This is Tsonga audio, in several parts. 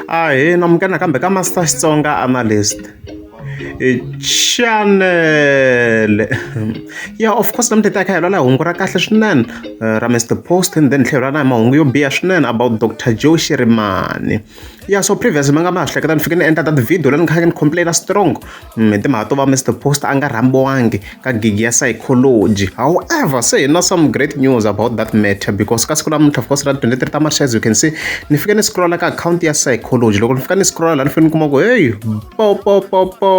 Ahee amuka nakambe ka Master Xitsonga Analyst. Chanele ya of course namuntlha hi ta kha hi lwela hungu ra kahle swinene eh, ra Mr Post and then tlhelo ra na mahungu yo biha swinene about Dr Joe Shirimani ya so previous ma nga ma hleketa ni fike ni endla that video leyi ni kha ni complain strong hi timhaka to va Mister Post a nga rhambiwangi ka gigi ya psychology however se hi na some great news about that matter because ka siku namuntlha of course ra 23 ta March as you can see ni fika ni scrolla ka akhawunti ya psychology loko ni fika ni scrolla la ni fika ni kuma ku heyi po po po po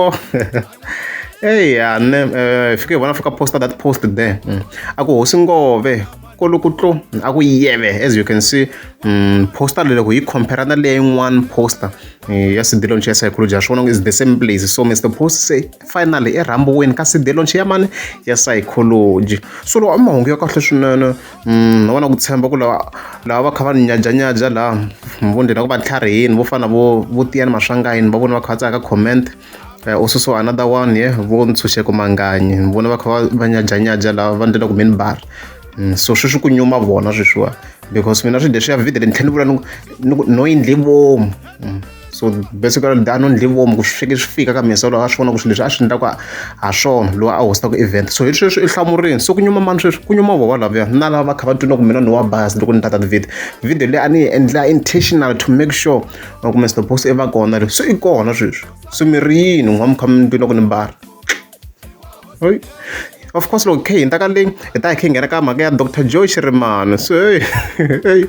eya ni eh, fike hi vona fika posta that post there mm. a ku hosi ngove kolokutlo a ku yeve as you can see um, poster loko hi compare na leya yin'wana poster eh, ya cd launch ya psychology ya swi vona is the same place so mr post se finally i rhambiwini ka cd launch ya mani ya psychology so loko mahungu ya kahle swinene um na vona ku tshemba ku lava lava va kha va nyajanyaja laha vo ndlela ku va tlharihini vo fana vo vo tiyani maswangayini va vona va kha va tsaka comment Eh, u susiwa another one ye vo ntshunxeko manganyi ni vona va kha va- va nyajanyaja lava va ndlela ku mini bar Mm, so sweswi ku nyuma vona sweswiwa because mina swi leswiya video ni tlhela ni vula ni ku- ni ku no yi ndli vomu Mm, so basically da no ndli vomu ku swi fike swi fika ka mina so loko a swi vona ku swilo leswi a swi endlaka ha swona loyi a hostaka event so hi sweswi i hlamurini so ku nyuma mani sweswi ku nyuma vona lavuya na lava va kha va twina ku mina ni wa bas loko ni tata video video leyi a ni yi endla intentional to make sure or kumbe snowbox i va kona leswi swi i kona sweswi swi mi ri yini n'wa mi kha mi ndwi loko ni mbala oyi of course loko khe hi ta ka leyi hi ta hi khe hi nghena ka mhaka ya dr joe xirimani so hey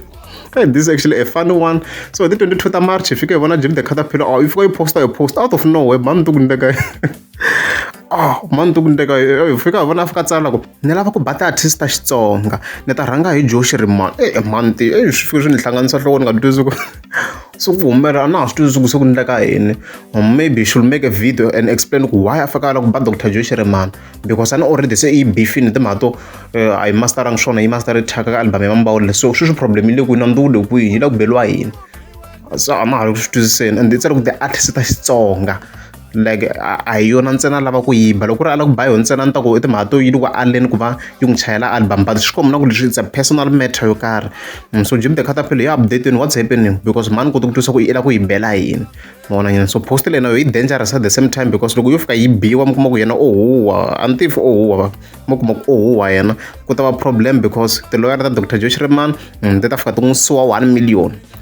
Hey, this is actually a funny one. So hi ti 22 ta March hi fike hi vona Jim the Caterpillar. Oh, yi fika yi posta yi posta out of nowhere, mhani ni ti ku ni le kaya. ah mani ti ku ndleka hi fika hi vona fika tsala ku ni lava ku ba ti-artist ta xitsonga ni ta rhanga hi joshi ri mani e eh, mani ti eh, swi fike swi ni hlanganisa nhloko ni nga twisi ku se ku humelela a na ha swi twisi ku se ku ndleka yini maybe should make a video and explain ku why a fika a lava ku ba dr joshi ri mani because a ni already se i bifini timhaka to eh, a yi masteranga swona yi master ri thyaka ka album ya mambawulile so sweswi problem yi le kwini a ni tiwule kwihi yi la ku beliwa yini so a na ha ri ku swi twisiseni and i tsale ku ti-artist ta xitsonga like a hi yona ntsena lava ku yimba loko ku ri a lava ku ba yona ntsena ni ta ku i timhaka to yi loko aleni ku va yi n'wi chayela album but swi komba na ku leswi it's a personal matter yo karhi mm, so jim the catapil ya updateni what's happening because mani koti ku twisa ku i lava ku yi bela yini mona nyana so post lena yo yi dangerous at the same time because loko yo fika yi biwa mi kuma ku yena ohuwa oh, a ni tivi ohuwa oh, mi kuma ku ohuwa oh, yena ku ta va problem because tiloyara ta dr josh reman mm, ti ta fika ti n'wi suwa one million